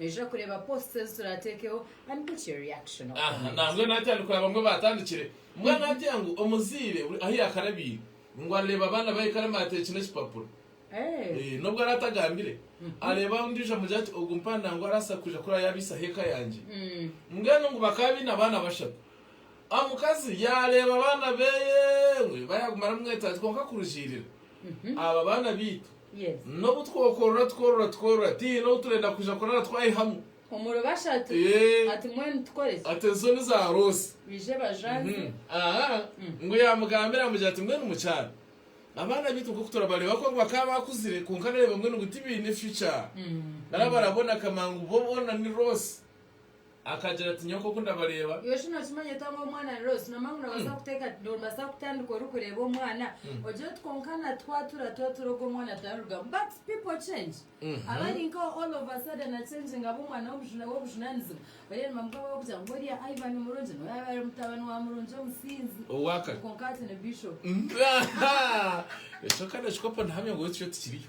Nejura kureeba posts ezi turatekeho and put your reaction or Aha, comment. nambwenu hati ari kuraba mbwenu batandikire. Mbwenu hati ngu omuzaire buri ahu yakarabiire ngu areeba abaana bahe kare bateekine ekipapura. Eh. Eh, n'obu ari atagambire, areeba ondiijo amugire ati ogu mpanda ngu araasa kwija kuraba yabaisaho eka yangye. Mbwenu ngu bakaba baine abaana bashatu. Omukazi yaareeba abaana beye ngu bayaaguma aramweta ati kwonka kurugiirira aba baana baitu N'obu twokorora tukorora tukorora, tihaine ou turenda kwija kurara twayihamu. Eeh. Ati ezo ni za roosi. Ahaa. Ngu yaamugambira yaamugira ati mbwenu mukyara, abaana baitu nk'oku turabareeba kwonka bakaba baakuzire kwonka nooreeba mbwenu ngu tibaine future. Nari barabona kama ngu bo boona ni roosi. Akagira ati, Nyowe nk'oku ndabareeba. Iwe shi nookimanya ota ngu omwana ni Rose? Noomanya ngu noobaasa kuteeka, noobaasa kutandika orikureeba omwana, ogire oti kwonka natwatura twatura ogu omwana taarugamu. But people change. Abari nkawe all of a sudden acenginga aba omwana w'obujuna, w'obujunaanizibwa. Oriya ni mamuka we w'okugira ngu oriya Ivan ni murungi, n'oriya yaabaire ari mutabani wa murungi omusinzi. Owaakare. Kwonka hati ni Bishop. Ahaa! Ekyo kandi okikopo ndahamya ngu beitu itwe tikiriyo.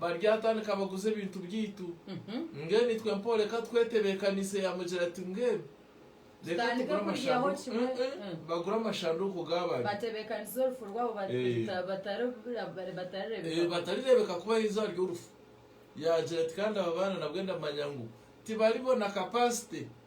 baryatandika baguze ebintu byaitu. Mbwenu itwe mpaho reka twetebeekaniise. Yaamugira ati, Mbwenu reka tugure amashanduuku. Bagura amashanduuku gaabari. Batebeekaniza orufu rwabo batarireebeka. Batarireebeka kubaho eizooba ry'orufu. Yaagira ati, Kandi aba baana nabwe ndamanya ngu tibaribona kapasite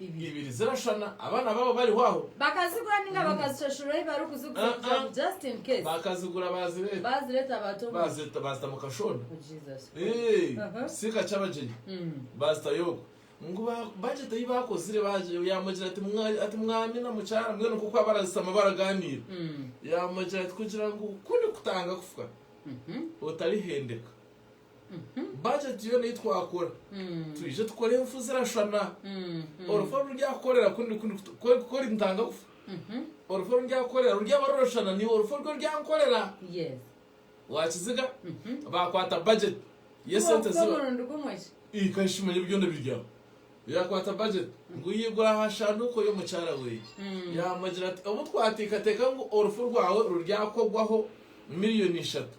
ibiri zirashana abana babo bariho aho. Bakazigura ninga bakazishashura ahi barikuzigura kugira ngu just in case. Bakazigura bazireta. Bazireta bata omu. Bazireta bazita mu kashonda. Oh Jesus Christ. Ekisiika ky'abagyenyi bazitayo okwo. Ngu ba budget ei bakozire bagye yamugira ati mwa ati mwami na mukyara mbwenu nk'oku abarazishama baragaaniira. Yamugira ati kugira ngu ku ndikutanga kufa otarihendeka. Bajeti yoona ei twakora twije tukore enfu zirashana. Orufu oru ndyakukorera ku ori ntanga kufa. Orufu oru ndyakukorera ruryaba rurashana naiwe orufu oru oryankorera. Waakiziga? Baakwata bajeti y'esente zi. Ikahi shi manya byona biri aho. Yaakwata bajeti ngu yaigura aha shanduuko y'omukyara we. Yaamugira ati, Obu twateekateeka ngu orufu rwawe ruryakogwaho miriyoni ishatu,